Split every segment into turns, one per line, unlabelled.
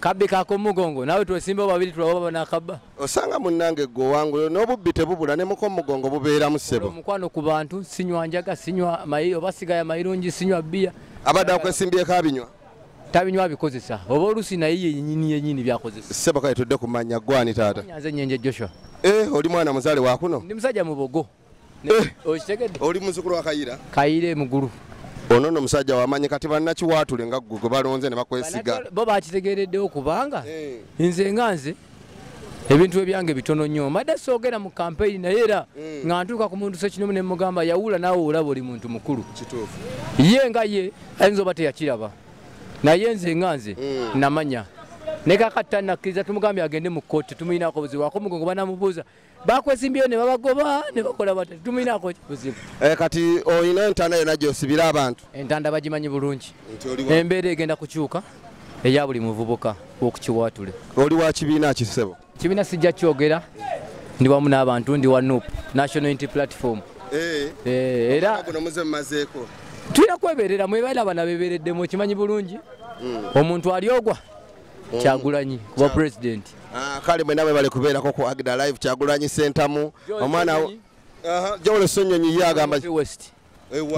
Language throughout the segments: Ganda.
kabbi kakomugongo
nawe twesimbawo babiri tulaba banakabba osanga munnange
gwe owangulo n'obubbi tebubula ne mukomugongo bubeeramu ssebo omukwano ku bantu
sinywa njaga sinywa mayi oba sigaya mayirungi sinywa bbiya abadde akwesimbyeko
abinywa tabinywa abikozesa
oba olusi naye yenyini yenyini byakozesa ssebo kale tudde ku mannya
gwani taata nyanze nyenje joshua
eh oli mwana muzaale
wakuno ndi musajja mubogo
Eh. okitegedde oli muzukulu wa
kayira kayira emugulu
ono no musajja
wamanyi kati bannakiwaatule nga ggwe gwe balonze ne bakwesiga bo bakitegeereddewo
kubanga eh. nze nga nze ebintu ebyange bitono nnyo mbadde soogera mu kampeyini naye era eh. nga ntuuka ku muntu sekinomu ne mugamba yawula naawe olaba oli muntu mukulu
ye nga ye
ayinza oba teyakiraba naye nze nga nze eh. namanya nekakati tanakkiriza tumugambye agende mu kkooti tumulinako buzibu akomugongo banamubuuza bakwezimbyeyo ne babagoba ne bakola bata tuminaako buzibu eh, kati olina
entanda yona gyosibira abantu entanda bagimanyi bulungi
embeera egenda kukyuka eya buli muvubuka okukiwaatule oli wa kibiina
kisebo kibiina sijja kyogera
ndi wamu n'abantu ndi wa nup national unity platform eh. Eh, era tulina kweberera mwebaera abana bebereddemu okimanyi bulungi hmm. omuntu ali ogwa kyagulanyi kuba president ah, kale mwenawe
bali kubeerako ku agda live kyagulanyi sentamu omwana jawolo sonyonyi ye agamba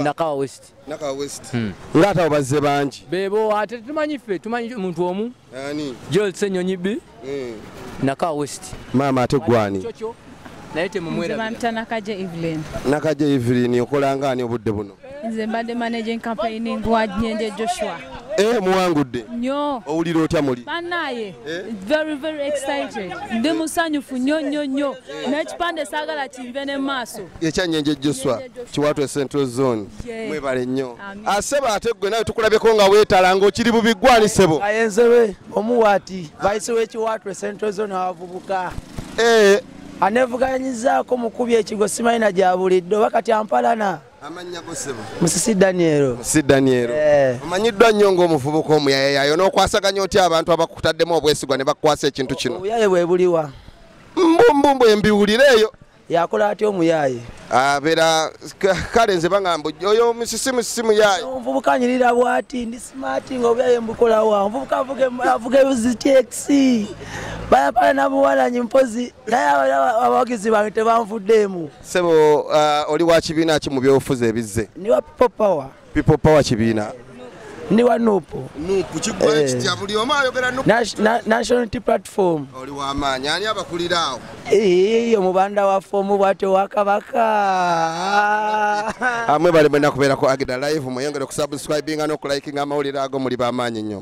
nakawa west
nakawa west hmm.
nga ate abazze bangi bebo ate tumanyi
ffe tumanyi muntu omu joel senyonyi bi hmm. nakawa west maama ate gwani
naye
temumwerabantanakaje
evelyn nakaje
evelyn okolanga ani obudde buno nze mbadde managing
campaigning wa nyenje joshua eh muwangudde
nyo owulira
otya muli
banaye
eh? very very excited ndi musanyufu nyo nyo nyo eh. nekipande sagala kinve ne maaso ekyanyenje joshua
kiwatwe central zone mwebale nnyo aseba ate gwe nawe tukulabyeko nga wetalanga okiri bubigwanisebo ayenzewe
Omuwati vice w'ekiwaatule central zone abavubuka eh. aneevuganyizaako mukubi ekigo simanyi na gya buliddwa oba kati ampalana
musisi daniel
musisi daniel eh. omanyiddwa
nnyo ng'omuvubuka omuyayayayo n'okwasaganya otya abantu abakutaddemu obwesigwa ne bakukwasa ekintu kino obuyaye bwe buliwa
mbumbumbu
embiwulireeyo yakola atya
omuyaaye abera
kale nze baŋamba oyo musisi musisi muyaaye omuvubuka anyirira
bwati ndi simaati nga obyaye mbukolawa omuvubuka avuga ebuzitexi bayapala nabuwalanyi mpozi naye abawagizi bange tebanvuddeemu sebo uh,
oli wa kibiina ki mu byobufuzi ebizze ndi wa people power
people power kibiina
ndi wa
nupu eh.
national
platform
iyo mubanda
wa fomu bwatyo wakabaka
amwe bali mwena kubeera ku agida live mweyongere okusubscribinga n'okulayikinga amawulire ago muli bamaanyi nnyo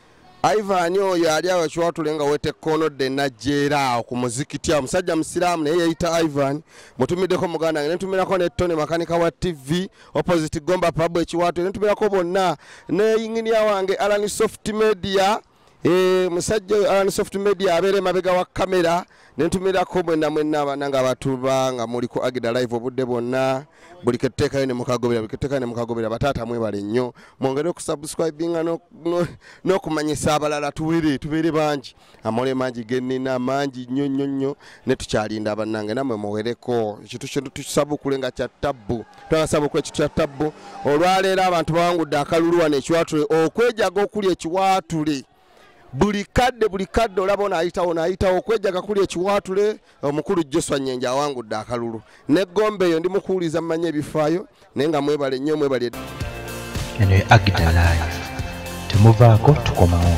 Ivan oyo ali awo kiwatule nga wete kono de najera awo ku muzikiti awo musajja musiraamu naye yeyita Ivan mutumiddeko muganda wange netumirako ne Tony makanika wa TV opposite Gomba pub ekiwatule netumirako bonna ne yinginia wange Alan Soft Media e, musajja oyo Alan Soft Media abeera emabega wa kamera nentumirako mwena mwena abana nga batuba nga muli ku agida live obudde bwonna buli ketutekayo nemukagobera buli ketutekayo nemukagobera bataata mwebale nnyo mwongere okusubscribinga n'okumanyisa abalala tuwere tubeere bangi amole mangi genina mangi nnyo nnyo nnyo netukyalinda banange namwe muwereko ekintu kintu tukisabukule nga kya tabbu twanasabukula ekintu kya tabbu olwaleero abantu bawangudde akalulu wano ekiwatule okwejaga okuli ekiwatule buli kadde buli kadde olaba ono ayitawo naayitawo okwejaga kuli ekiwaatule omukulu joswa nyenje awangudde akalulu negomba eyo ndi mukuwuliza mumanya ebifaayo naye nga mwebale nnyo mwebale
eno ye agida live temuvaako tukomawo